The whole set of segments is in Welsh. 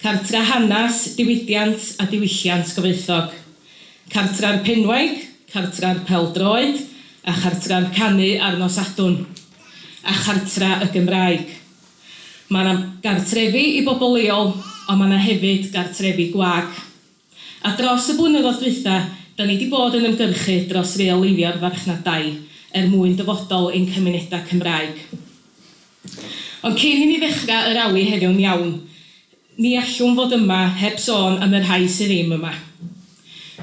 Cartref Hanes, Diwydiant a Diwylliant Gyfoethog, Cartref Penwaig, Cartref Pêl-droed a Chartref Canu ar Nos Sadwrn, a Chartref y Gymraeg. Mae yna gartrefi i bobl leol, ond mae yna hefyd gartrefi gwag. A dros y blynyddoedd dwytha, da ni di bod yn ymgyrchu dros reoleiddio'r farchnad dai er mwyn dyfodol ein cymuneda Cymraeg. Ond cyn i ni ddechra y rali heddiw'n iawn, ni allwn fod yma heb sôn am y rhai sydd ddim yma.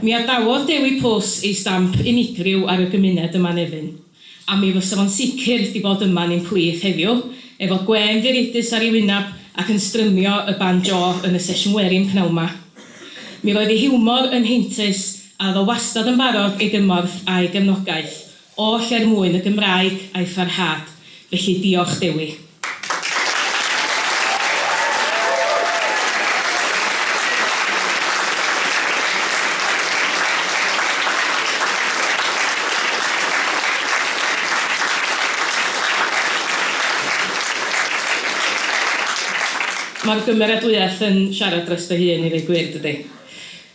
Mi adawodd Dewi Pws ei stamp unigryw ar y gymuned yma Nefyn. a mi fysa fo'n sicr 'di bod yma yn un pwych heddiw, efo gwên ddireidus ar ei wyneb ac yn strymio y banjo yn y sesiwn werin p'nawn 'ma. Mi roedd ei hiwmor yn heintus, a oedd o wastad yn barod ei gymorth a'i gefnogaeth, oll er mwyn y Gymraeg a'i pharhad, felly diolch Dewi. Mae'r gymeradwyaeth yn siarad dros fy hun i ddweud gwir, dydy?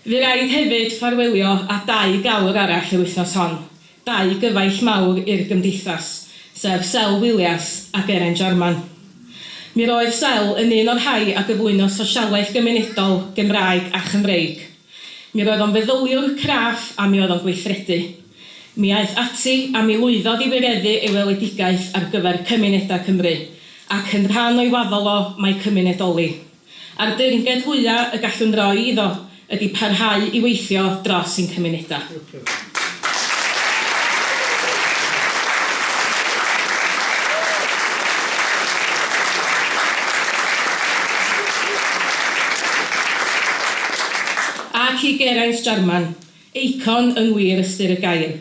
Fy raid hefyd ffarwelio â dau gawr arall yr wythnos hon, dau gyfaill mawr i'r Gymdeithas, sef Sel Williams a Geraint Jarman. Mi roedd Sel yn un o'r rhai a gyflwynodd sosialaeth gymunedol Gymraeg a Chymreig. Mi roedd o'n feddyliwr craff a mi oedd o'n gweithredu. Mi aeth ati a mi lwyddodd i wireddu ei weledigaeth ar gyfer cymunedau Cymru, ac yn rhan o'i waddol o, mae cymunedoli. a'r deyrnged fwya' y gallwn roi iddo ydi parhau i weithio dros ein cymunedau. Ac i Geraint Jarman, Eicon yn wir ystyr y gair.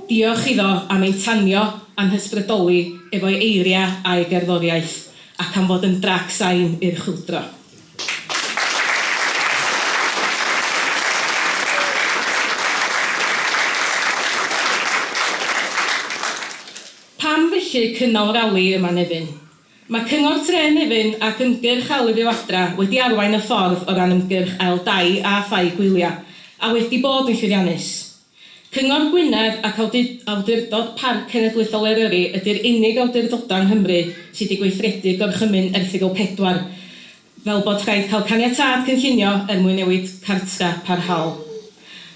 Diolch iddo am ein tanio a'n hysbrydoli efo'i eiriau a'i gerddoriaeth, ac am fod yn drac sain i'r chwyldro. Pam felly cynnal rali yma Nefyn? Mae Cyngor Tre Nefyn ac Ymgyrch Ail Ryw Adra wedi arwain y ffordd o ran ymgyrch Ail Dai a Thai Gwylia, a wedi bod yn llwyddiannus. Cyngor Gwynedd ac Awdurdod Parc Cenedlaethol Eryri ydy'r unig awdurdodau yng Nghymru sydd wedi gweithredu Gorchymyn Erthygl 4. fel bod rhaid cael caniatâd cynllunio er mwyn newid cartref parhaol.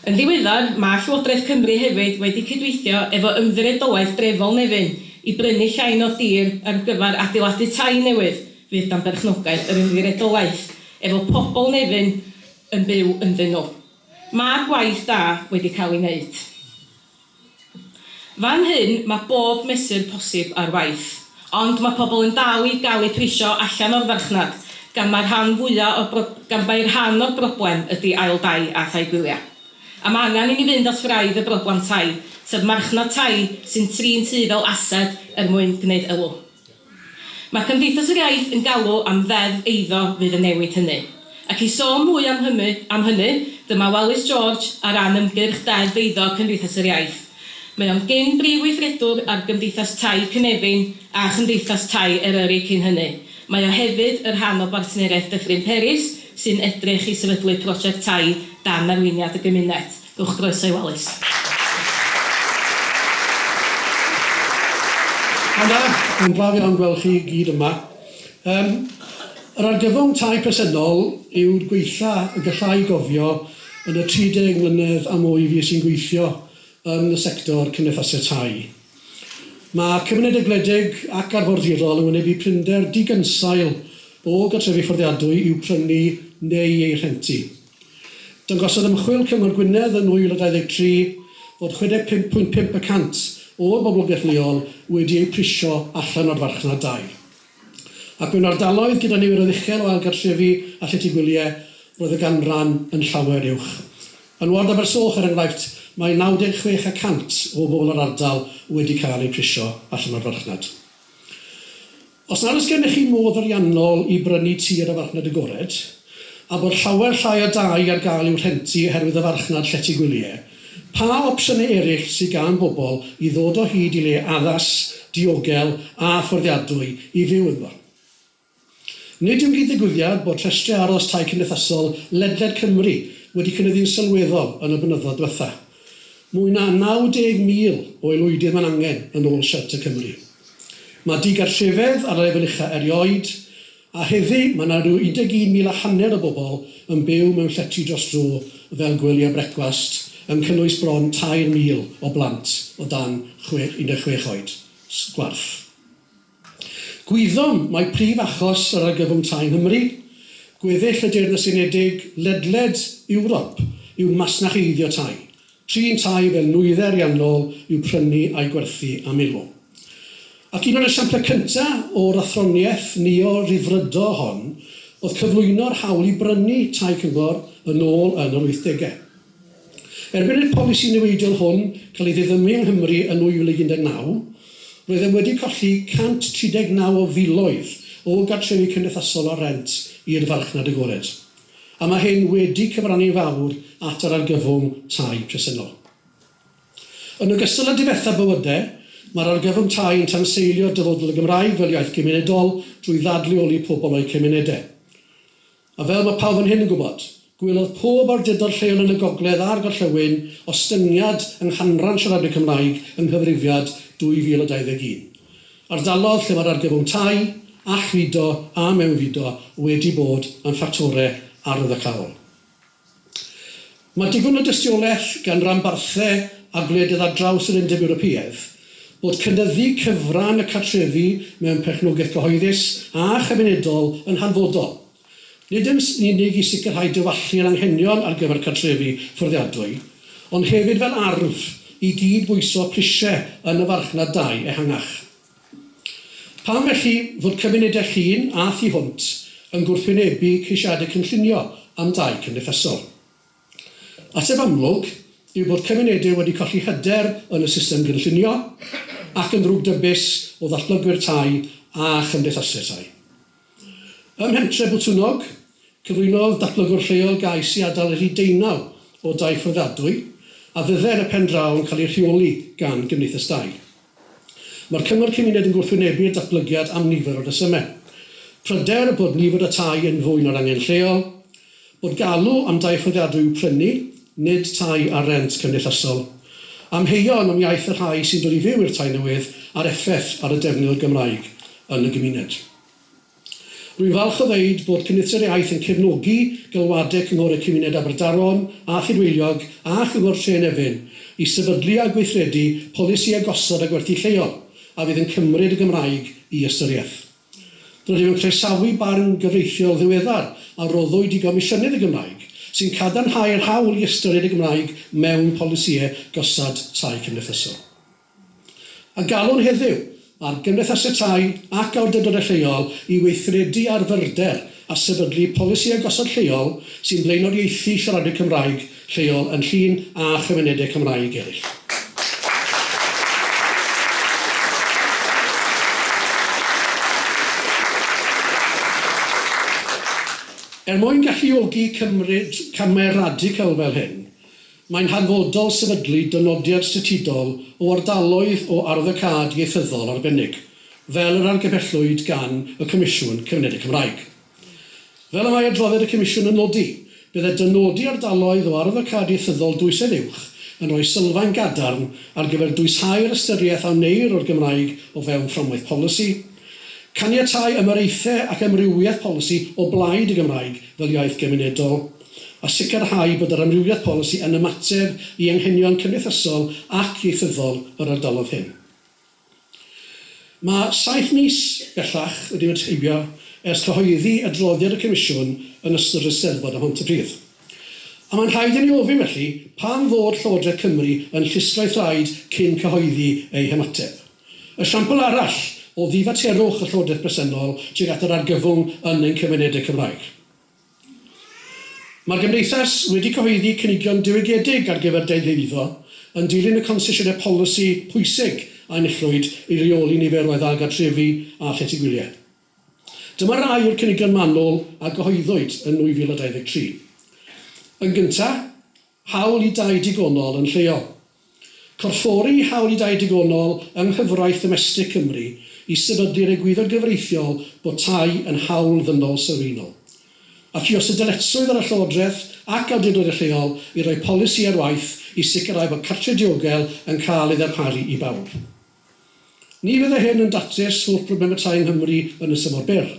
Yn ddiweddar, mae Llywodraeth Cymru hefyd wedi cydweithio efo Ymddiriedolaeth Drefol Nefyn i brynu llain o dir ar gyfer adeiladu tai newydd fydd dan berchnogaeth yr Ymddiriedolaeth, efo pobl Nefyn yn byw ynddyn nhw. Mae gwaith da wedi cael ei wneud. Fan hyn mae bob mesur posib ar waith. Ond mae pobl yn dal i gael eu prisio allan o'r farchnad, gan mai'r rhan fwya' o'r bro- gan mai'r rhan o'r broblem ydi ail dai a thai gwyliau. A mae angen i ni fynd at wraidd y broblem tai, sef marchnad tai sy'n trin ty fel ased er mwyn gwneud elw. Mae Cymdeithas yr Iaith yn galw am Ddeddf eiddo fydd yn newid hynny. Ac i sôn mwy am hymu, am hynny, dyma Welyst George ar ran ymgyrch Deddf Eiddo Cymdeithas yr Iaith. Mae o'n gyn brif weithredwr ar Gymdeithas Tai Cynefin a Chymdeithas Tai Eryri cyn hynny. Mae o hefyd y rhan o Bartneriaeth Dyffryn Peris sy'n edrych i sefydlu project tai dan arweiniad y gymuned. Uwch groeso i Wallace. Pnawn da, mae'n braf iawn gweld chi i gyd yma. Yym, yr argyfwng tai presennol yw'r gwaetha y gallai gofio yn y 30 mlynedd a mwy fues i'n gweithio yn y sector cymdeithasau tai. Mae cymunedau gwledig ac arfordirol yn wynebu prinder digynsail o gartrefi fforddiadwy i'w prynu neu eu rhentu. Dangosodd ymchwil Cyngor Gwynedd yn 2023 fod 65.5 y cant o'r boblogaeth leol wedi eu prisio allan o'r farchnad dai. Ac mewn ardaloedd gyda niferoedd uchel o ailgartrefu a llety gwyliau, roedd y ganran yn llawer uwch. Yn ward Abersoch, er enghraifft, mae 96 y cant o bobl yr ardal wedi cael eu prisio allan o'r farchnad. Os nad oes gennych chi modd ariannol i brynu tir â farchnad agored, a bod llawer llai o dai ar gael i'w rhentu oherwydd y farchnad llety gwylie, pa opsiynau eraill sydd gan bobl i ddod o hyd i le addas, diogel a fforddiadwy i fyw ynddo? Nid yw'n gyd-ddigwyddiad bod rhestrau aros tai cymdeithasol ledled Cymru wedi cynyddu'n sylweddol yn y blynyddoedd diwethaf, Mwy na 90,000 o aelwydydd mae'n angen, yn ôl Shelter Cymru. Mae digartrefedd ar y lefel ucha' erioed, a heddi mae 'na ryw 11,000 a hanner o bobl yn byw mewn llety dros dro fel gwelia brecwast, yn cynnwys bron 3,000 o blant o dan 16 oed. Gwarth. Gwyddom mai prif achos yr argyfwng tai yng Nghymru, gweddill y Deyrnas Unedig, ledled Ewrop, yw masnach eiddio tai, trin tai fel nwyddau ariannol i'w prynu a'u gwerthu am elo. Ac un o'r esiamplau cyntaf o'r athroniaeth neo-Ryddfrydo hon oedd cyflwyno'r hawl i brynu tai cyngor yn ôl yn yr wythdegau. Erbyn i'r polisi niweidiol hwn cael ei ddiddymu yng Nghymru yn 2019, roeddem wedi colli 139 o filoedd o gartrefi cymdeithasol ar rent i'r farchnad agored, a mae hyn wedi cyfrannu'n fawr at yr argyfwng tai presennol. Yn ogystal â difetha bywydau, mae'r argyfwng tai yn tanseilio dyfodol y Gymraeg fel iaith gymunedol drwy ddadleoli pobl o'u cymunedau. A fel mae pawb fan hyn yn gwybod, gwelodd pob awdurdod lleol yn y gogledd a'r gorllewin ostyngiad yng nghanran siaradwyr Cymraeg yng nghyfrifiad 2021. Ardalodd lle mae'r argyfwng tai, allfudo a mewnfudo wedi bod yn ffactorau arwyddocaol. Mae digon o dystiolaeth gan ranbarthau a gwledydd ar draws yr Undeb Ewropeaidd bod cynyddu cyfran y cartrefi mewn perchnogaeth gyhoeddus a chymunedol yn hanfodol, nid yn unig i sicrhau diwallu yr anghenion ar gyfer cartrefi fforddiadwy, ond hefyd fel arf i gyd-bwyso prisiau yn y farchnad dai ehangach. Pam felly fod cymunedau Llŷn a Thu Hwnt yn gwrthwynebu ceisiadau cynllunio am dai cymdeithasol? Ateb amlwg yw bod cymunedau wedi colli hyder yn y system gynllunio ac yn ddrwgdybus o ddatblygwyr tai a chymdeithasau tai. Ym Mhentre Botwnnog, cyflwynodd datblygwr lleol gais i adael rhif deunaw o dai fforddiadwy a fydde yn y pen draw yn cael eu rheoli gan Gymdeithas Dai. Mae'r Cyngor Cymuned yn gwrthwynebu'r datblygiad am nifer o resymau, pryder bod nifer y tai yn fwy na'r angen lleol, Bod galw am dai fforddiadwy i'w prynu, nid tai ar rent cymdeithasol. Amheuon am iaith y rhai sy'n dod i fyw i'r tai newydd a'r effaith ar y defnydd o'r Gymraeg yn y gymuned. Rwy'n falch o ddeud bod Cymdeithasau'r Iaith yn cefnogi galwadau Cynghorau Cymuned Aberdaron a Thudweiliog a Chyngor Tre yn Efin i sefydlu a gweithredu polisïau gosod a gwerthu lleol a fydd yn cymryd y Gymraeg i ystyriaeth. Rydym yn croesawu barn gyfreithiol ddiweddar a roddwyd i Gomisiynydd y Gymraeg, sy'n cadarnhau'r hawl i ystyried y Gymraeg mewn polisïau gosod tai cymdeithasol. A galwn heddiw ar gymdeithasau tai ac awdurdodau lleol i weithredu ar fyrder a sefydlu polisïau gosod lleol sy'n blaenoriaethu siaradwyr Cymraeg lleol yn Llŷn a chymunedau Cymraeg eraill. Er mwyn galluogi cymryd camau radical fel hyn, mae'n hanfodol sefydlu dynodiad statudol o ardaloedd o arwyddocâd ieithyddol arbennig, fel yr argymhellwyd gan y Comisiwn Cymunedau Cymraeg. Fel y mae adroddiad y Comisiwn yn nodi, byddai dynodi ardaloedd o arwyddocâd ieithyddol dwysedd uwch yn rhoi sylfaen gadarn ar gyfer dwysáu'r ystyriaeth a wneir o'r Gymraeg o fewn fframwaith polisi, caniatáu ymyraethau ac amrywiaeth polisi o blaid y Gymraeg fel iaith gymunedol, a sicrhau bod yr amrywiaeth polisi yn ymateb i anghenion cymdeithasol ac ieithyddol yr ardaloedd hyn. Mae saith mis bellach wedi mynd heibio ers cyhoeddi adroddiad y Comisiwn yn ystod yr Eisteddfod ym Mhontypridd. A mae'n rhaid i ni ofyn felly, pam fod Llywodraeth Cymru yn llusgo'i thraed cyn cyhoeddi ei hymateb? Esiampl arall o ddifaterwch y Llywodraeth bresennol tuag at yr argyfwng yn ein cymunedau Cymraeg. Mae'r Gymdeithas wedi cyhoeddi cynigion diwygiedig ar gyfer deddf eiddo, yn dilyn y concesiynau polisi pwysig a enillwyd i reoli niferoedd a gartrefi a llety gwyliau. Dyma rai o'r cynigion manwl a gyhoeddwyd yn 2023. Yn gyntaf, Hawl i dai digonol yn lleol. Corffori hawl i dai digonol yng nghyfraith ddomestig Cymru i sefydlu'r egwyddor gyfreithiol bod tai yn hawl ddynol sylfaenol. Ac i os y dyletswydd ar y Llywodraeth ac awdurdodau lleol i roi polisi ar waith i sicrhau bod cartref diogel yn cael ei ddarparu i bawb. Ni fyddai hyn yn datrys holl broblemau tai yng Nghymru yn y tymor byr,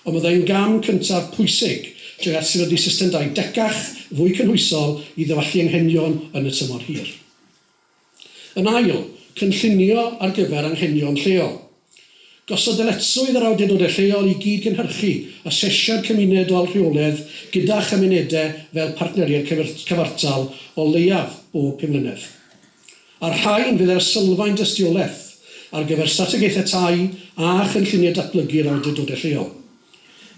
ond byddai'n gam cyntaf pwysig tuag at sefydlu system dai decach, fwy cynhwysol i ddywallu anghenion yn y tymor hir. Yn ail, cynllunio ar gyfer anghenion lleol. Gosod dyletswydd ar awdurdodau lleol i gyd-gynhyrchu asesiad cymunedol rheolaidd gyda chymunedau fel partneriaid cyfartal o leiaf bob pum mlynedd. A'r rhain fydd ar sylfaen dystiolaeth ar gyfer strategaethau tai a chynlluniau datblygu'r awdurdodau lleol.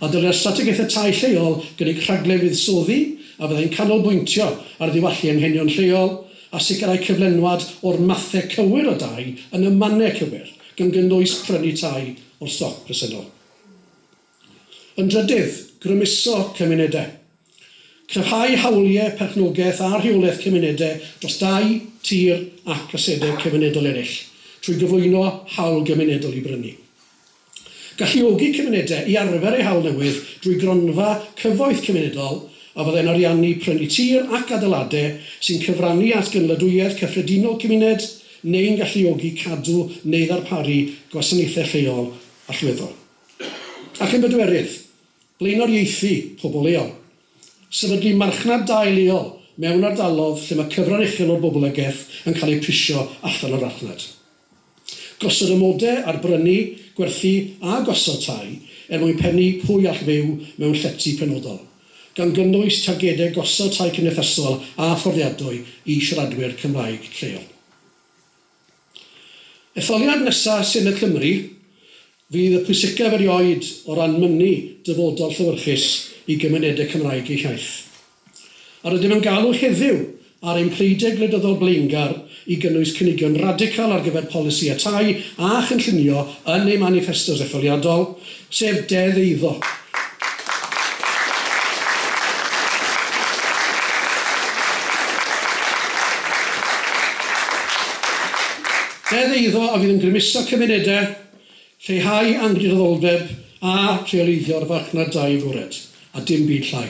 A dylai'r strategaethau tai lleol gynnig rhaglen fuddsoddi a fyddai'n canolbwyntio ar ddiwallu anghenion lleol a sicrhau cyflenwad o'r mathau cywir o dai yn y mannau cywir, gan gynnwys prynu tai o'r stoc presennol. Yn drydydd, grymuso cymunedau. Cryfhau hawliau perchnogaeth a rheolaeth cymunedau dros dai, tir ac asedau cymunedol eraill trwy gyflwyno hawl gymunedol i brynu. Galluogi cymunedau i arfer eu hawl newydd drwy gronfa cyfoeth cymunedol a fyddai'n ariannu prynu tir ac adeiladau sy'n cyfrannu at gynaliadwyedd cyffredinol cymuned neu'n galluogi cadw neu ddarparu gwasanaethau lleol allweddol. Ac yn bedwerydd, blaenoriaethu pobl leol. Sefydlu marchnad dai leol mewn ardalodd lle mae cyfran uchel o'r boblogaeth yn cael eu prisio allan o'r farchnad. Gosod amodau ar brynu, gwerthu a gosod tai er mwyn pennu pwy all fyw mewn llety penodol, gan gynnwys targedau gosod tai cymdeithasol a fforddiadwy i siaradwyr Cymraeg lleol. Etholiad nesa Senedd Cymru fydd y pwysicaf erioed o ran mynnu dyfodol llewyrchus i gymunedau Cymraeg eu hiaith. A rydym yn galw heddiw ar ein pleidie gwleidyddol blaengar i gynnwys cynigion radical ar gyfer polisïau tai a chynllunio yn eu maniffestos etholiadol, sef Deddf Eiddo. Deddf Eiddo a fydd yn grymuso cymunedau, lleihau angynrhyddoldeb a rheoleiddio'r farchnad dai agored, a dim byd llai.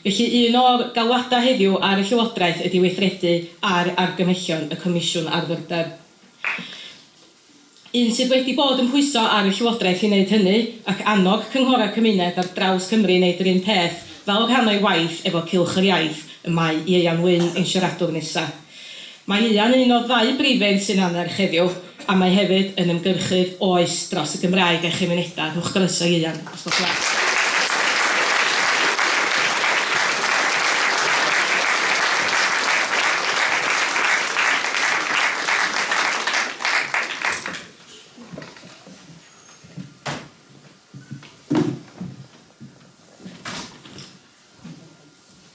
Felly, un o'r galwadau heddiw ar y Llywodraeth ydi weithredu ar argymhellion y Comisiwn ar Fyrddau. Un sydd wedi bod yn pwyso ar y Llywodraeth i wneud hynny, ac annog cynghorau cymuned ar draws Cymru i wneud yr un peth, fel rhan o'i waith efo Cylch yr Iaith, y mae Ieuan Wyn, ein siaradwr nesa'. Mae Ieuan yn un o ddau briffyn sy'n annerch heddiw, a mae hefyd yn ymgyrchydd oes dros y Gymraeg a'i chymunedau. Rhowch groeso i Ieuan, os gwelwch yn dda.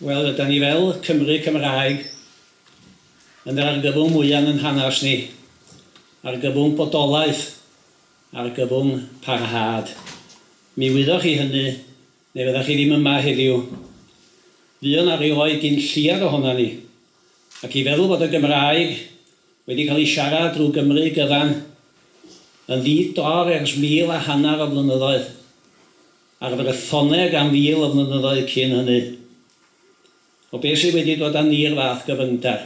Wel, ydan ni fel Cymry Cymraeg yn yr argyfwng mwya yn 'yn hanas ni, argyfwng bodolaeth, argyfwng parhad. Mi wyddoch chi hynny, ne fyddach chi ddim yma heddiw. Fuo 'na rioed gin lleiad ohonan ni, ac i feddwl fod y Gymraeg wedi cael ei siarad drwy Gymry gyfan yn ddi-dor ers mil a hanner o flynyddoedd, Ac fe gaethoneg am fil o flynyddoedd cyn hynny. O beth sydd wedi dod â ni i'r fath gyfyngder?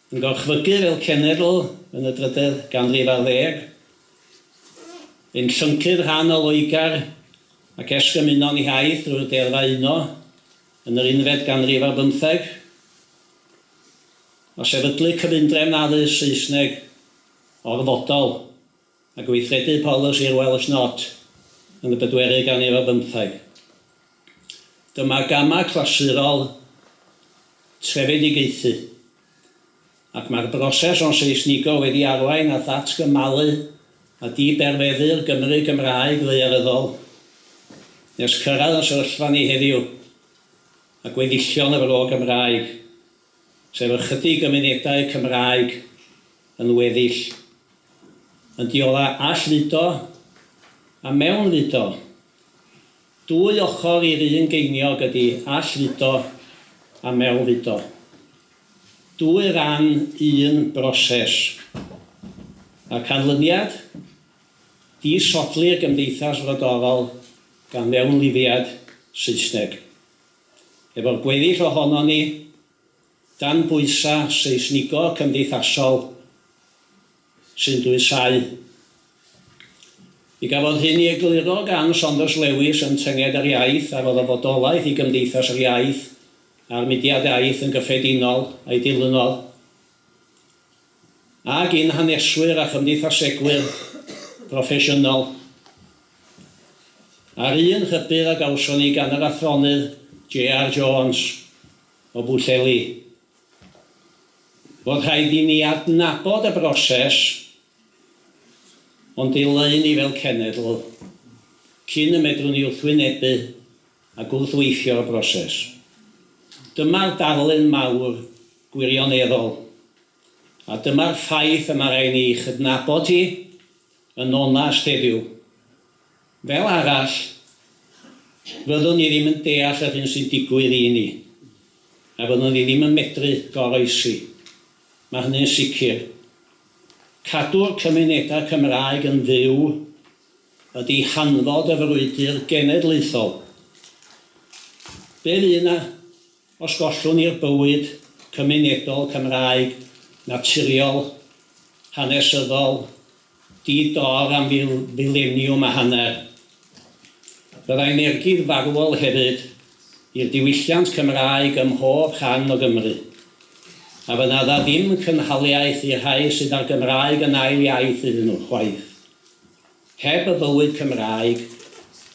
Yn gorchfygu fel cenedl yn y drydedd ganrif ar ddeg, yn llyncu'r rhan o Loegr ac esgymuno'n hiaith drwy'r deddfau uno yn yr unfed ganrif ar bymtheg? O sefydlu cyfundrefn addysg Saesneg orfodol? a gweithredu polisi'r Welsh Not yn y bedwerydd ganrif ar bymtheg. Dyma gamau clasurol trefedigaethu, ac mae'r broses o'n Seisnigo wedi arwain at ddatgymalu a di-berfeddu'r Gymru Gymraeg ddaearyddol nes cyrraedd y sefyllfa ni heddiw a gweddillion y Fro Gymraeg sef ychydig o munudau Cymraeg yn weddill, yn diola allfudo a mewnfudo. Dwy ochr i'r un geiniog ydi allfudo a mewnfudo. Dwy ran un broses. Mae'r canlyniad? Disodli'r gymdeithas frodorol gan fewnlifiad Saesneg. Efo'r gweddill ohonon ni dan bwysau seisnigo cymdeithasol sy'n dwysáu. Mi gafodd hyn i egluro gan Saunders Lewis yn Tynged yr Iaith a roedd y fodolaeth i Gymdeithas yr Iaith a'r Mudiad Iaith yn gyffredinol a'i dilynodd. ag i'n haneswyr a chymdeithasegwyr proffesiynol, a'r un rhybudd a gawson ni gan yr athronydd JR Jones o Bwllheli, fod rhaid i ni adnabod y broses o'n dileu ni fel cenedl cyn y medrwn ni wrthwynebu a gwrthweithio'r broses. Dyma'r darlun mawr gwirioneddol A dyma'r ffaith y mae rhaid ni ei chydnabod hi yn onast heddiw. Fel arall, fyddwn ni ddim yn deall yr hyn sy'n digwydd i ni, a fyddwn ni ddim yn medru goroesi. Mae hynny'n sicr. Cadw'r cymunedau Cymraeg yn fyw ydi hanfod y frwydr genedlaethol. Be fu 'na Os gollwn ni'r bywyd cymunedol Cymraeg naturiol, hanesyddol, di-dor am fil, fileniwm a hanner, byddai'n ergyd farwol hefyd i'r diwylliant Cymraeg ym mhob rhan o Gymru, a fydd'na ddim cynhaliaeth i'r rhai sydd â'r Gymraeg yn ail iaith iddyn nhw, chwaith. Heb y bywyd Cymraeg,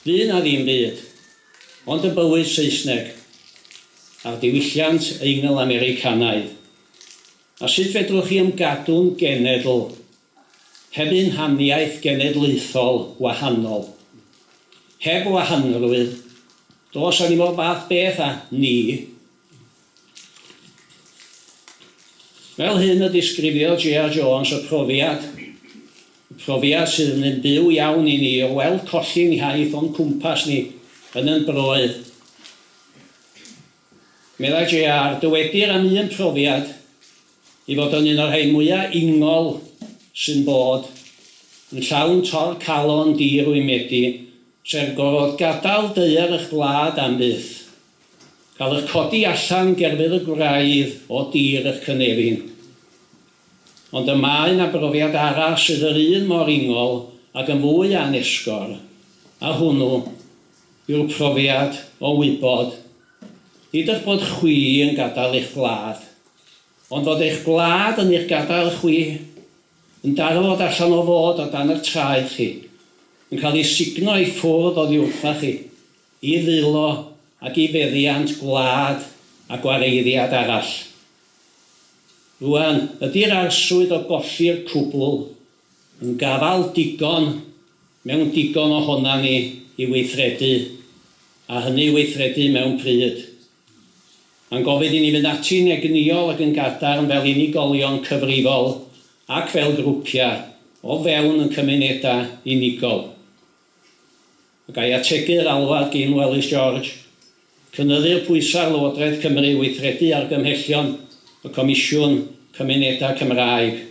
fu 'na ddim byd, ond y bywyd Saesneg, a'r diwylliant Eingl-Americanaidd. A sut fedrwch chi ymgadw'n genedl heb un haniaeth genedlaethol wahanol? Heb wahanrwydd, does 'na ddim o'r fath beth â 'ni', Fel hyn y disgrifiodd JR Jones y profiad, Y profiad sydd yn un byw iawn i ni o weld colli'n hiaith o'n cwmpas ni yn yn broydd. Meddai JR, Dywedir am un profiad ei fod o'n un o'r rhai mwyaf ingol sy'n bod, yn llawn tor-calon di-rwymedi, sef gorfod gadael daear eich gwlad am byth, Cael eich codi allan gerfydd y gwraidd o dir eich cynefin. Ond y mae 'na brofiad arall sydd yr un mor ingol ac yn fwy anesgor, a hwnnw yw'r profiad o wybod, nid eich bod chwi yn gadael eich gwlad, ond fod eich gwlad yn eich gadael chwi, yn darfod allan o fod o dan eich traed chi, yn cael ei sugno i ffwrdd oddi wrtha chi, i ddwylo ac i feddiant gwlad a gwareiddiad arall. Rŵan, ydi'r arswyd o golli'r cwbl yn gafael digon mewn digon ohonan ni i weithredu, a hynny i weithredu mewn pryd? Mae'n gofyn i ni fynd ati'n egnïol ac yn gadarn fel unigolion cyfrifol ac fel grwpiau o fewn yn cymunedau unigol. Pe gai ategu yr alwad gin Welysz George, cynyddu'r pwysau ar Lywodraeth Cymru i weithredu argymhellion y Comisiwn Cymunedau Cymraeg,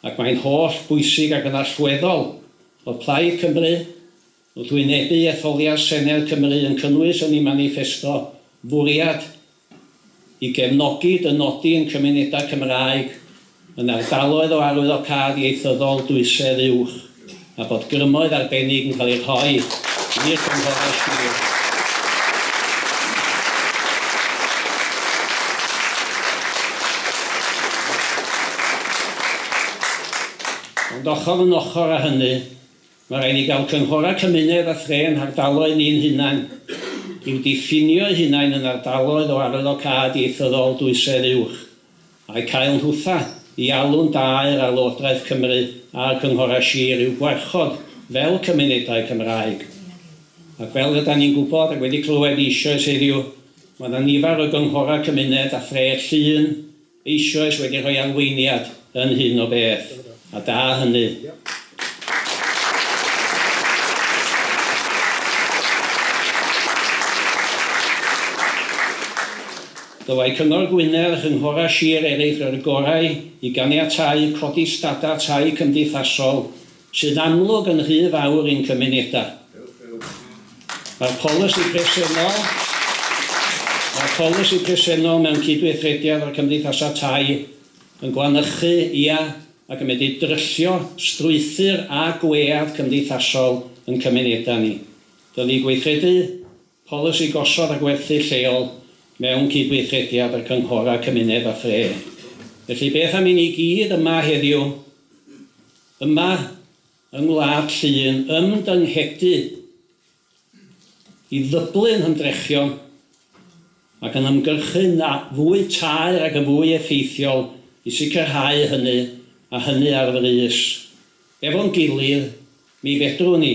ac mae'n holl bwysig ac yn allweddol fod Plaid Cymru wrth wynebu etholiad Senedd Cymru yn cynnwys yn ei maniffesto fwriad i gefnogi dynodi yn cymunedau Cymraeg yn ardaloedd o arwyddocâd ieithyddol dwysedd uwch a bod grymoedd arbennig yn cael eu rhoi i'r cynghorau sir Ond ochr yn ochr â hynny, Mae rhaid i gael cynghorau cymuned a thre yn hardaloedd ni'n hunain, i'w diffinio eu hunain yn ardaloedd o arwyddocâd ieithyddol dwysedd uwch, a'u cael yn hwtha i alw'n da i'r Arlywodraeth Cymru a'r cynghorau sir i'w gwarchod fel cymunedau Cymraeg. Ac fel rydan ni'n gwybod ac wedi clywed eisoes heddiw, mae 'na nifer o gynghorau cymuned a thre llun, eisoes wedi rhoi arweiniad yn hyn o beth, a da hynny. Dylai Cyngor Gwynedd a chynghorau sir eraill roi'r gorau i ganiatáu codi stadau tai cymdeithasol sy'n amlwg yn rhy fawr i'n cymunedau. Mae'r polisi presennol Mae'r polisi presennol mewn cydweithrediad â'r cymdeithasau tai yn gwanychu, ia, ac yn medru dryllio strwythur a gwead cymdeithasol yn cymunedau ni. Dylid gweithredu Polisi gosod a gwerthu lleol mewn cydweithrediad â chynghorau cymuned a thre. Felly, beth am i ni gyd yma heddiw, yma yng Ngwlad Llŷn, ymdynghedu i ddyblu'n hymdrechion ac yn ymgyrchu yn fwy taer ac yn fwy effeithiol i sicrhau hynny, a hynny ar frys. Efo'n gilydd, mi fedrwn ni.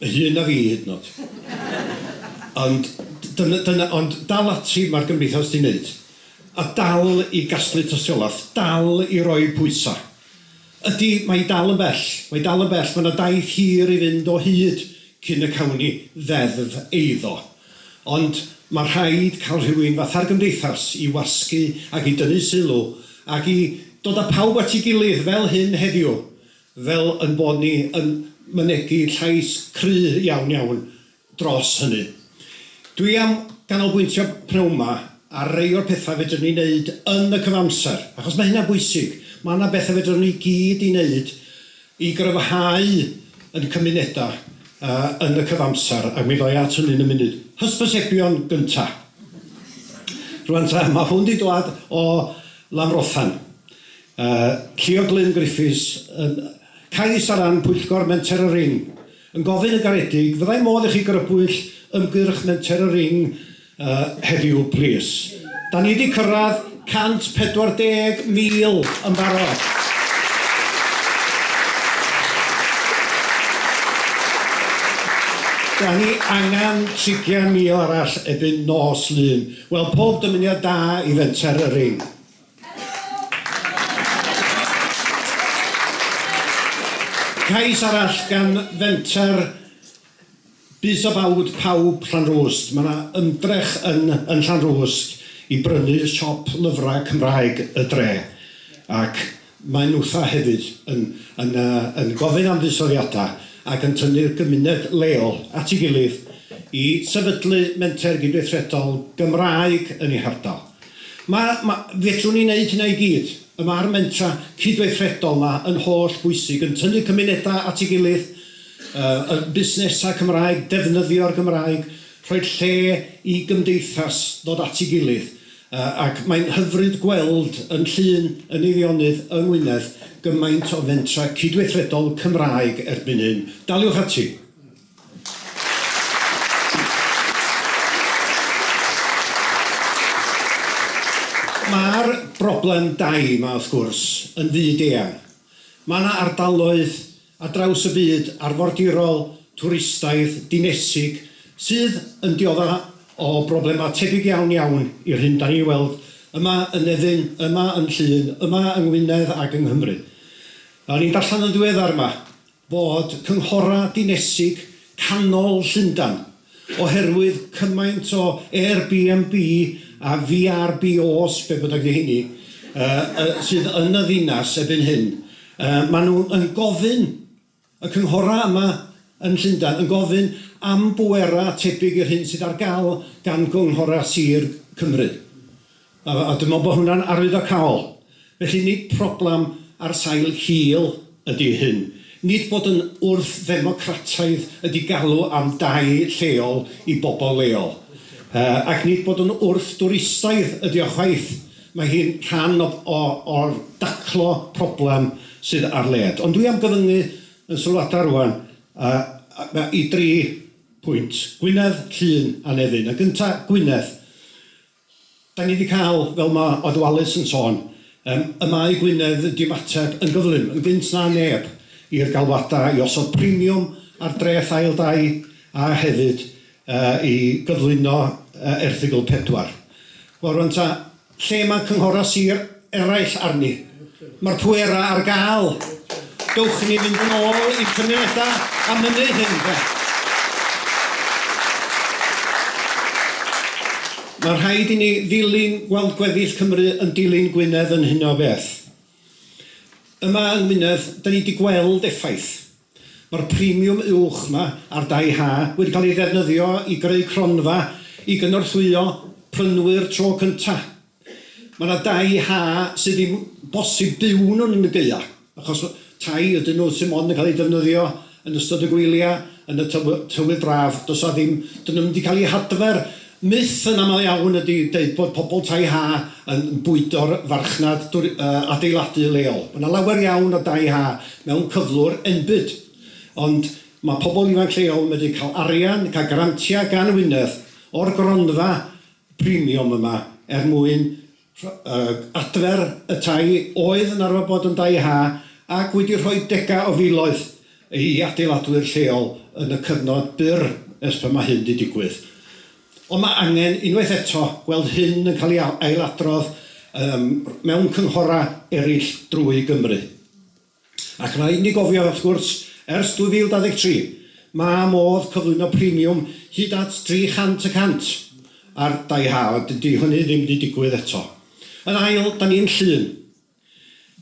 Hŷn na fi hyd yn o'd. Ond dyna dyna ond dal ati ma'r gymdeithas 'di neud. A dal i gasglu tystiolaeth, dal i roi pwysa'. Ydi mae 'i dal yn bell, mae 'i dal yn bell, ma' 'na daith hir i fynd o hyd cyn y cawn ni ddeddf eiddo. Ond ma' rhaid ca'l rhywun fatha'r gymdeithas i wasgu ac i dynnu sylw ac i dod a pawb at 'i gilydd fel hyn heddiw fel ein bod ni yn mynegi llais cry' iawn iawn dros hynny. Dwi am ganolbwyntio p'nawn 'ma ar rei o'r petha' fedrwn ni wneud yn y cyfamser, achos mae hynna'n bwysig. Mae 'na betha' fedrwn ni gyd i wneud i gryfhau ein cymunedau yy yn y cyfamser, ac mi ddoi at hynny yn y munud. Hysbysebion gynta'. Rŵan ta, mae hwn 'di dwad o Lanfrothan. A Llio Glyn Griffiths yn cais ar ran Pwyllgor Menter y Ring, yn gofyn yn garedig, fyddai modd i chi grybwyll ymgyrch Menter y Ring heddiw plîs? Da ni di cyrraedd 140,000 yn barod. Da ni angen 30,000 arall ebyn nos Lun. Wel, pob dymuniad da i Fenter y Ring. Cais arall gan fenter Bys a Bawd Pawb Llanrwst, mae 'na ymdrech yn yn Llanrwst i brynu siop lyfrau Cymraeg y dre ac mae nhwtha hefyd yn yn yy yn gofyn am fuddsoddiadau ac yn tynnu'r gymuned leol at ei gilydd i sefydlu menter gydweithredol Gymraeg yn ei hardal. Mae, mae, fedrwn ni wneud hynna i gyd. Y mae'r mentra cydweithredol 'ma yn holl bwysig, yn tynnu cymunedau at ei gilydd, yy, y busnesau Cymraeg, defnyddio'r Gymraeg, rhoi lle i gymdeithas ddod at ei gilydd, yy, ac mae'n hyfryd gweld yn Llŷn, yn Eifionydd, yng Ngwynedd, gymaint o fentrau cydweithredol Cymraeg erbyn hyn. Daliwch ati! Mae'r broblem dai 'ma, wrth gwrs, yn fyd-eang. Mae 'na ardaloedd ar draws y byd, arfordirol, twristaidd, dinesig, sydd yn diodda' o broblemau tebyg iawn iawn i'r hyn 'dan ni'n ei weld yma yn Nefyn, yma yn Llŷn, yma yng Ngwynedd ac yng Nghymru. O'n i'n darllen yn ddiweddar 'ma, fod cynghorau dinesig canol Llundain, oherwydd cymaint o Airbnb a VRBOs, be bynnag 'di rheiny, sydd yn y ddinas erbyn hyn, maen nhw yn gofyn, y cynghorau yma yn Llundain, yn gofyn am bwerau tebyg i'r hyn sydd ar gael gan gynghorau sir Cymru. A a dwi me'wl bo' hwnna'n arwyddocaol. Felly nid problem ar sail hil ydi hyn. Nid bod yn wrth-ddemocrataidd ydi galw am dai lleol i bobol leol. Yy ac nid bod yn wrth-dwristaidd ydi o chwaith. Mae hi'n rhan o o o'r daclo problem sydd ar led. Ond dwi am gyfyngu yn sylwada rŵan yy a- ma- i dri pwynt, Gwynedd, Llŷn a Nefyn. Yn gynta, Gwynedd. Da ni 'di cael, fel ma' Odd Wallace yn sôn, yym, y mae Gwynedd wedi ymateb yn gyflym, yn gynt na neb, i'r galwadau i osod premiwm ar dreth ail dai a hefyd yy i gyflwyno yy erthygl pedwar. Wel rŵan ta, lle ma' cynghorau sir? eraill arni. Mae'r pwerau ar gael. Dowch i ni fynd yn ôl i'n cymunedau a mynnu hyn, de. Mae rhaid i ni ddilyn gweld gweddill Cymru yn dilyn Gwynedd yn hyn o beth. Yma yng Ngwynedd, da ni wedi gweld effaith. Mae'r premiwm uwch yma ar dai Ha wedi cael ei ddefnyddio i greu cronfa i gynorthwyo prynwyr tro cynta'. Mae 'na dai Ha sydd ddim bosib byw yno yn y gaeaf achos tai ydyn nhw sy' mond yn cael eu defnyddio yn ystod y gwylia, yn y tywydd braf. Does 'na ddim... 'dyn nhw ddim wedi cael eu hadfer Myth yn aml iawn ydy deud bod pobl Tai Ha yn bwydo'r farchnad adeiladu leol. Mae 'na lawer iawn o dai ha mewn cyflwr enbyd, ond mae pobl ifanc lleol yn medru cael arian, cael grantiau gan Wynedd o'r gronfa premium yma er mwyn adfer y tai oedd yn arfer bod yn dai ha ac wedi rhoi degau o filoedd i adeiladwyr lleol yn y cyfnod byr ers pan mae hyn wedi digwydd. Ond mae angen, unwaith eto, gweld hyn yn cael ei ailadrodd mewn cynghorau eraill drwy Gymru. Ac rhaid i ni gofio, wrth gwrs, ers 2023, mae modd cyflwyno premiwm hyd at 300 y cant ar dai ha, ond dydy hynny ddim wedi digwydd eto. Yn ail, da ni'n Llŷn,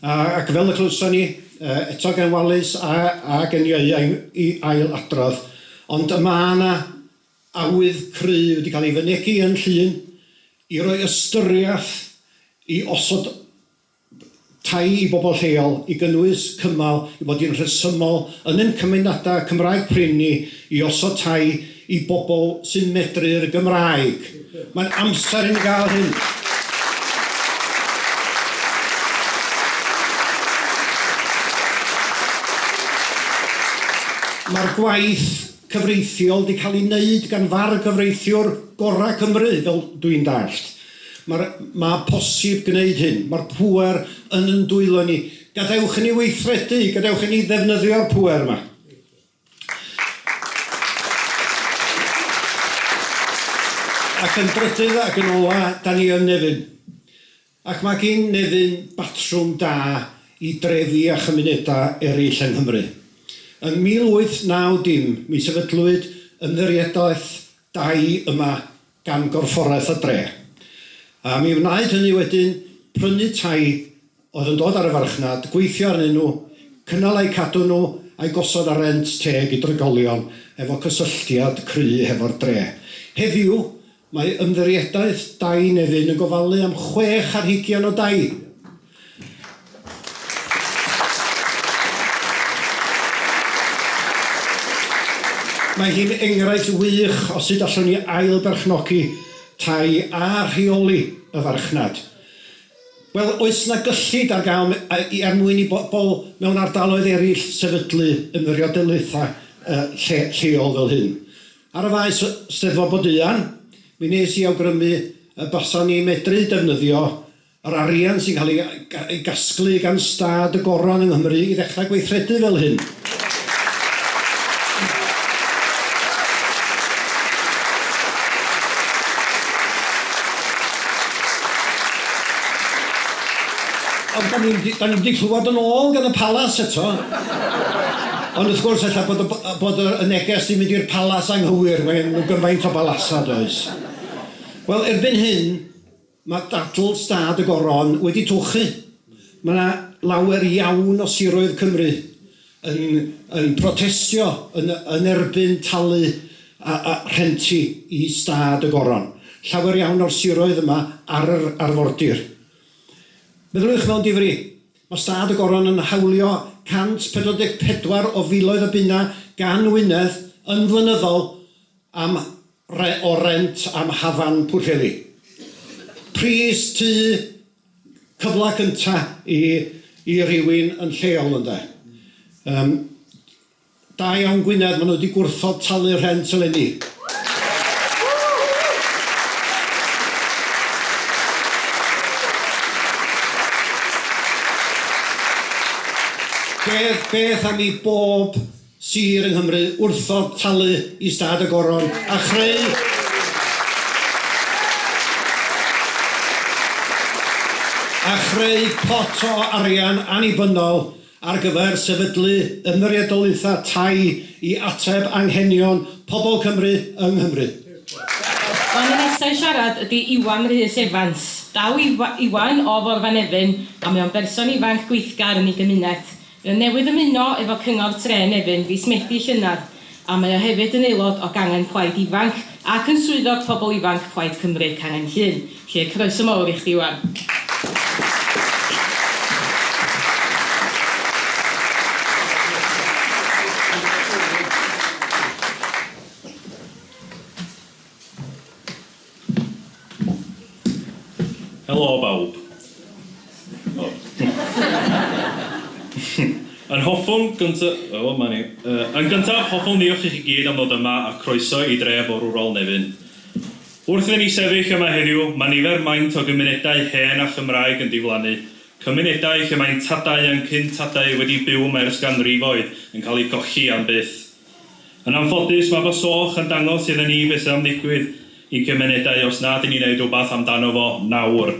ac fel y clywson ni eto gan Wallace a, a gen Ieuan i, i ail adrodd, ond y mae yna awydd cry wedi cael ei fynegi yn Llŷn i roi ystyriaeth i osod tai i bobl lleol i gynnwys cymal i fod yn rhesymol yn ein cymunedau Cymraeg prin ni i osod tai i bobl sy'n medru'r Gymraeg. Mae'n amser i ni gael hyn. Mae'r gwaith cyfreithiol wedi cael ei wneud gan fargyfreithiwr gorau Cymru fel dwi'n dallt. Mae'r Mae'n posib gwneud hyn. Mae'r pŵer yn yn dwylo ni. Gadewch i ni weithredu, gadewch i ni ddefnyddio'r pŵer yma. Ac yn drydydd ac yn ola, da ni yn Nefyn. Ac mae gin Nefyn batrwm da i drefi a chymunedau eraill yng Nghymru. Yn 1890 mi sefydlwyd ymddiriedaeth dai yma gan Gorfforaeth y Dre. A mi wnaed hynny wedyn prynu tai oedd yn dod ar y farchnad, gweithio arnyn nhw, cynnal a'u cadw nhw a'u gosod ar rent teg i drigolion efo cysylltiad cry hefo'r dre. Heddiw, mae Ymddiriedaeth Dai Nefyn yn gofalu am chwech ar hugian o dai Mae hi'n enghraifft wych o sut allwn ni ail-berchnogi tai a rheoli y farchnad. Wel, oes 'na gyllid ar gael er mwyn i bobl mewn ardaloedd eraill sefydlu ymddiriedolaethau lle, lleol fel hyn? Ar y faes Steddfod Bodeuan, mi nes i awgrymu y basan ni'n medru defnyddio Yr arian sy'n cael ei gasglu gan stad y Goron yng Nghymru i ddechrau gweithredu fel hyn. Ond da ni wedi clywed yn ôl gan y Palas eto. Ond wrth gwrs ella bod y neges di mynd i'r Palas anghywir, mae gen nhw gymaint o balasau does. Wel erbyn hyn, Mae dadl stad y Goron wedi tywchu. Mae yna lawer iawn o siroedd Cymru yn yn protestio yn yn erbyn talu a a rhenti i stad y Goron. Llawer iawn o'r siroedd yma ar yr arfordir. Meddyliwch mewn difri, mae stad y Goron yn hawlio 144 o filoedd o bunnau gan Wynedd yn flynyddol am re o rent am hafan Pwllheli. Pris tŷ cyfla cynta i i rywun yn lleol ynde. Yym da iawn Gwynedd ma' nhw wedi gwrthod talu rhent eleni. Beth beth am i bob sir yng Nghymru wrthod talu i Stad y Goron a chreu a chreu pot o arian annibynnol ar gyfer sefydlu Ymyriedolaetha Tai i ateb anghenion pobl Cymru yng Nghymru. O'n i nesa i siarad ydi Iwan Rhys Evans. Daw Iwan o Forfanefyn a mae o'n berson ifanc gweithgar yn ei gymuned. Fe newydd ymuno efo Cyngor Tre Nefyn fis Medi llynedd a mae o hefyd yn aelod o Gangen Plaid Ifanc ac yn Swyddog Pobl Ifanc Plaid Cymru Cangen Llŷn. Felly, croeso mawr i chdi Iwan. Helo bawb. O. Yn hoffwn gynta- o 'ma ni. Yy yn gyntaf, hoffwn ddiolch i chi gyd am ddod yma a croeso i dref forwrol Nefyn. Wrth i ni sefyll yma heddiw, mae nifer maint o gymunedau hen a Chymraeg yn diflannu, cymunedau lle mae'n tadau a'n cyn-tadau wedi byw yma ers ganrifoedd yn cael eu golli am byth. Yn anffodus, mae fy soch yn dangos idda ni beth sydd am ddigwydd i gymunedau os nad yn ni'n neud rwbath amdano fo nawr.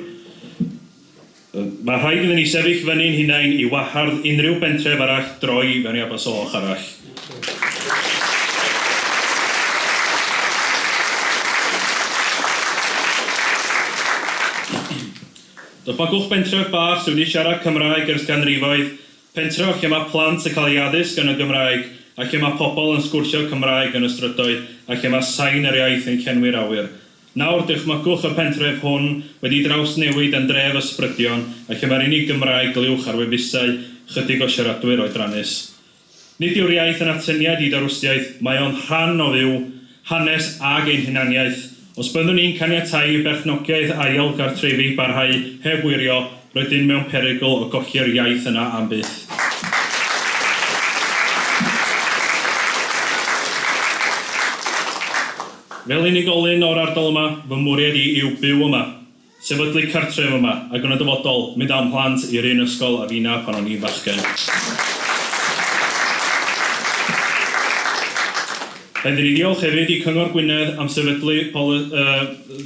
Mae rhaid idda ni sefyll fyny'n hunain i wahardd unrhyw bentref arall droi fewn i Abersoch arall. Dychmygwch bentref bach sydd wedi siarad Cymraeg ers canrifoedd Pentref lle mae plant yn cael eu addysg yn y Gymraeg a lle mae pobl yn sgwrsio Cymraeg yn y strydoedd a lle mae sain yr iaith yn llenwi'r awyr. Nawr, dychmygwch y pentref hwn wedi drawsnewid yn dref ysbrydion a lle mae'r unig Gymraeg glyuwch ar wefusau chydig o siaradwyr oedrannus. Nid yw'r iaith yn atyniad i dawristiaeth, mae o'n rhan o fyw, hanes ag ein hunaniaeth. Os byddwn ni'n caniatáu i berchnogiaeth ail gartrefi barhau heb wirio, rydyn mewn perygl o golli'r iaith yna am byth. Fel unigolyn o'r ardal yma, fy mwriad i yw byw yma. Sefydlu cartref yma ac yn y dyfodol, mynd â'm mhlant i'r un ysgol a finna pan o'n i'n fachgen. Rhaid i ni ddiolch hefyd i Cyngor Gwynedd am sefydlu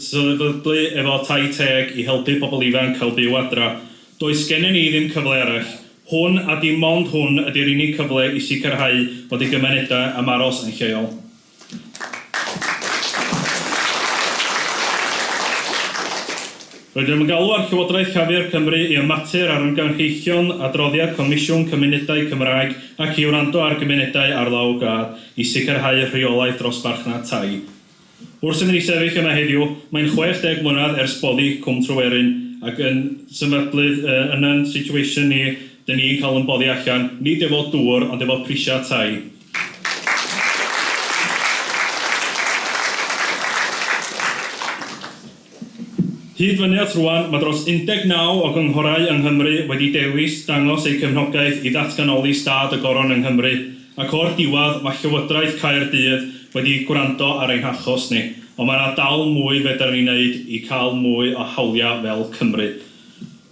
sefydlu efo Tai Teg i helpu pobl ifanc cael byw adra. Does gennyn ni ddim cyfle arall. Hwn a dim ond hwn ydy'r unig cyfle i sicrhau bod ei gymunedau am aros yn lleol. Rydym yn galw ar Llywodraeth Llafur Cymru i ymater ar ymgynghreichion adroddiad Comisiwn Cymunedau Cymraeg ac i wrando ar gymunedau ar lawr gwlad i sicrhau rheolaeth dros farchnad tai. Wrth sy'n ni sefyll yma heddiw, mae'n 60 mlynedd ers boddi Cwm Tryweryn ac yn symudlydd yn yn situation ni, dyn ni'n cael yn boddi allan, nid efo dŵr ond efo prisiau tai. Hyd fyny at rŵan, mae dros 19 o gynghorau yng Nghymru wedi dewis dangos eu cefnogaeth i ddatganoli stad y Goron yng Nghymru, ac o'r diwedd, mae Llywodraeth Caerdydd wedi gwrando ar ein hachos ni, ond mae yna dal mwy fedar ni wneud i cael mwy o hawliau fel Cymru.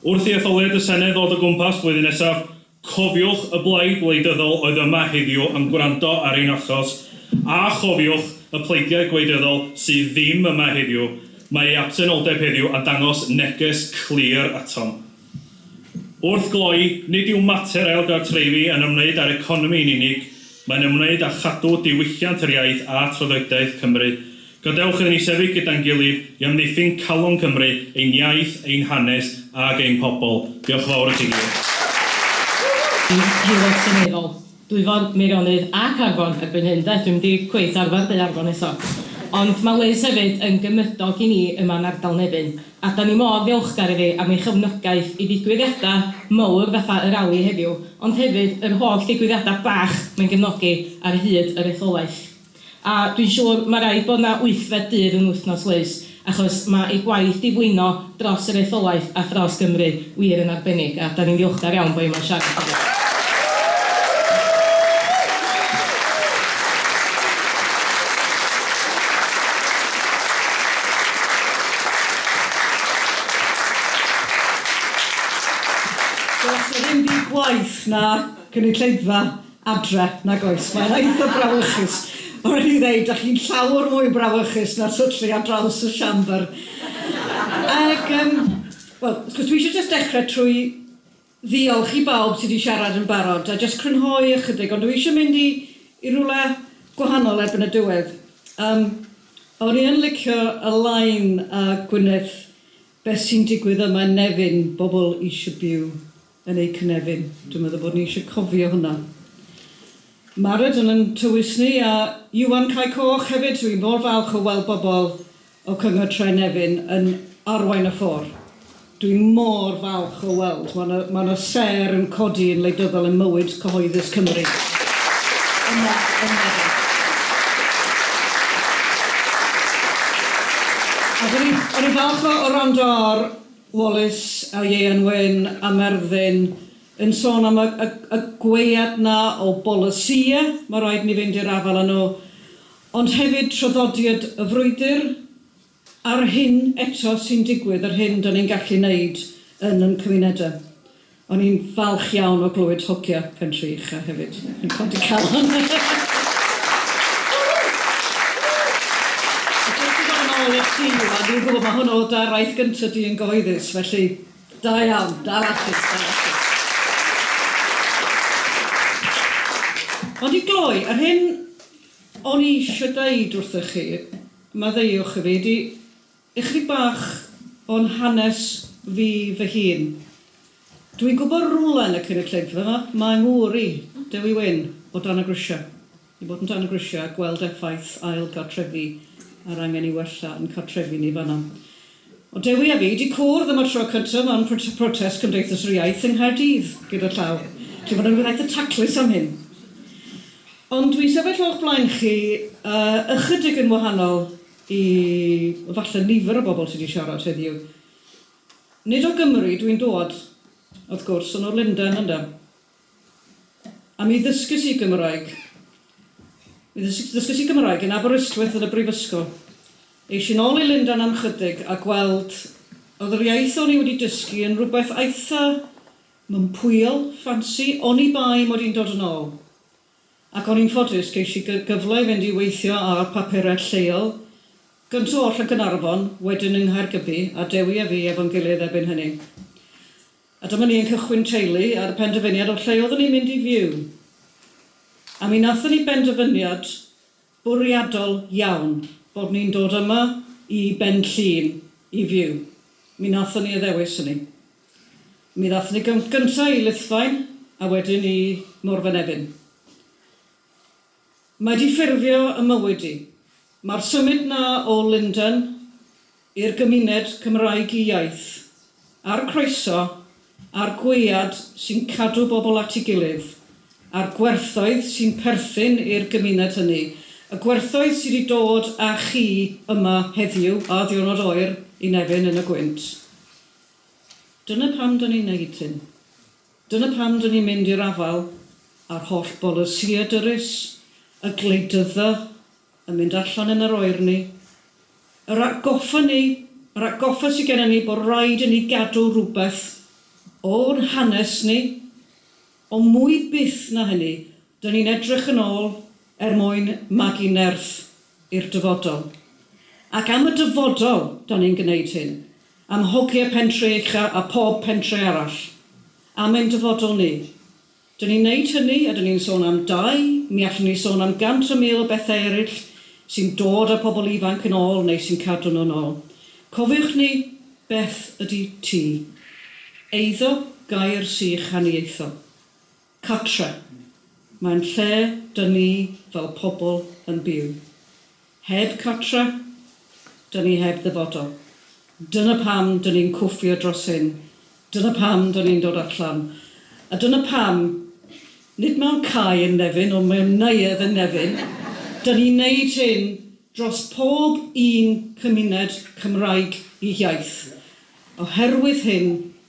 Wrth i etholiad y Senedd ddod o gwmpas flwyddyn nesaf, Cofiwch, y blaid wleidyddol oedd yma heddiw yn gwrando ar ein achos, a chofiwch, y pleidiau gwleidyddol sydd ddim yma heddiw, mae eu absenoldeb heddiw a dangos neges clir atom. Wrth gloi, nid yw mater ailgartrefi yn ymwneud â'r economi yn unig, mae'n ymwneud â chadw diwylliant yr iaith a thraddodiaeth Cymru. Gadewch iddyn ni sefyll gyda'n gilydd i amddiffyn calon Cymru, ein iaith, ein hanes ac ein pobl. Diolch yn fawr i chi gyd. Bydd Heulog Seneddol Dwyfor, Meirionnydd a Caernarfon erbyn hyn 'de, dwi'm 'di cweit arfer deud Arfon eto. Ond mae Liz hefyd yn gymydog i ni yma yn ardal Nefyn, a 'dan ni mor ddiolchgar iddi am ei chefnogaeth i ddigwyddiadau mowr fatha y rali heddiw, ond hefyd yr holl ddigwyddiadau bach mae'n gefnogi ar hyd yr etholaeth. A dwi'n siŵr ma raid bod 'na wythfed dydd yn wythnos Liz, achos ma ei gwaith di fwyno dros yr etholaeth a thros Gymru wir yn arbennig, a 'dan ni'n ddiolchgar iawn bo hi yma'n siarad heddiw. Does 'na ddim byd gwaeth na cynulleidfa adre, nag oes, mae'n eitha brawychus. Mae'n rhaid i fi ddeud, dach chi'n llawer mwy brawychus na'r syllu ar draws y siambr. Ac, um, wel, wrth gwrs, dwi eisiau just dechrau trwy ddiolch i bawb sydd wedi siarad yn barod, a just crynhoi ychydig, ond dwi eisiau mynd i, i rhywle gwahanol erbyn y diwedd. Um, o'n i yn licio y lain a Gwyneth, beth sy'n digwydd yma yn Nefyn, bobl eisiau byw yn eu cynefin. Dwi'n meddwl bod ni eisiau cofio hwnna. Mared yn yn tywys ni a Iwan Cae Coch hefyd. Dwi mor falch o weld bobl o Cyngor Tre Nefyn yn arwain y ffôr. Dwi mor falch o weld. Mae 'na, mae 'na sêr yn codi yn wleidyddol ym mywyd cyhoeddus Cymru yma yn Nefyn. A 'dan ni, 'dan ni'n falch o o wrando ar Wallace a Ieuan Wyn a Merddyn yn sôn am y y y gwead 'na o bolisïau, ma' raid ni fynd i'r afael â nhw, ond hefyd traddodiad y frwydr a'r hyn eto sy'n digwydd, yr hyn 'dan ni'n gallu neud yn yn cymunedau. O'n i'n falch iawn o glywed hogia Pentreich a hefyd yn codi calon. A jyst i ddod yn ôl i'r tîm yma, dwi'n gwybod mae hwn o da raith gynta di yn gyhoeddus, felly da iawn, dal ati, dal ati. Ond i gloi, yr hyn o'n i eisiau deud wrthych chi, maddeuwch i fi, ydy, Ychydig bach o'n hanes fi fy hun. Dwi'n gwybod rwle yn y cynulleidfa 'ma, mae 'ngŵr i, Dewi Wyn, o dan y grisiau. I fod yn dan y grisiau a gweld effaith ail gartrefi a'r angen i wella yn cartrefi ni fan'na. O'dd Dewi a fi 'di cwrdd am y tro cynta mewn protest Cymdeithas yr Iaith yng Nghaerdydd gyda llaw. Felly ma' 'na rywbeth eitha taclus am hyn. Ond dwi'n sefyll o'ch blaen chi yy ychydig yn wahanol i falle nifer o bobl sy 'di siarad heddiw. Nid o Gymru dwi'n dod, wrth gwrs, ond o Lundain ynde. A mi ddysges i Gymraeg. Mi ddysges i Gymraeg yn Aberystwyth yn y brifysgol. Eish i'n ôl i Lundain am chydig a gweld oedd yr iaith o'n i wedi dysgu yn rhywbeth eitha mympwyol, ffansi, oni bai mod i'n dod yn ôl. ac o'n i'n ffodus ges i gyfle i fynd i weithio ar papurau lleol, gynta oll yn Gaernarfon, wedyn yng Nghaergybi, a Dewi a fi efo'n gilydd erbyn hynny. A dyma ni yn cychwyn teulu ar y penderfyniad o lle oeddwn ni'n mynd i fyw. A mi nathon ni benderfyniad bwriadol iawn bod ni'n dod yma i Benllyn i fyw. Mi wnaethon ni addewis hynny. Mi ddaethon ni gyn- gynta' i Lythfaen a wedyn i Morfynefin. Mae 'di ffurfio 'y mywyd i. Mae'r symud 'na o Lundain i'r gymuned Cymraeg iaith, a'r croeso a'r gwead sy'n cadw bobl at ei gilydd, a'r gwerthoedd sy'n perthyn i'r gymuned hynny, y gwerthoedd sy' 'di dod â chi yma heddiw, a ddiwrnod oer i Nefyn yn y gwynt. Dyna pam 'dan ni'n neud hyn. Dyna pam 'dan ni'n mynd i'r afal a'r holl bolisïe dyrys, y gwleidydda, Yn mynd allan yn yr oerni. Yr atgoffa ni, yr atgoffa sy gennym ni bod raid i ni gadw rhywbeth o'n hanes ni, ond mwy byth na hynny, dŷn ni'n edrych yn ôl er mwyn magu nerth i'r dyfodol. Ac am y dyfodol dan ni'n gwneud hyn, am hogie Pentre Uchaf a phob pentre arall, am ein dyfodol ni. Dyn ni'n neud hynny a dyn ni'n sôn am dai, mi allwn ni sôn am gant a mil o bethau eryll sy'n dod â pobl ifanc yn ôl neu sy'n cadw nhw'n ôl. Cofiwch ni, beth ydy tŷ? Eiddo, gair sych haniaethol. Cartre'. Mae'n lle dyn ni fel pobl yn byw. Heb cartre, dyn ni heb ddyfodol. Dyna pam dyn ni'n cwffio dros hyn, dyna pam dyn ni'n dod allan, a dyna pam, nid mewn cae yn Nefyn, ond mewn neuadd yn Nefyn, dyn ni'n wneud hyn dros pob un cymuned Cymraeg ei hiaith, oherwydd hyn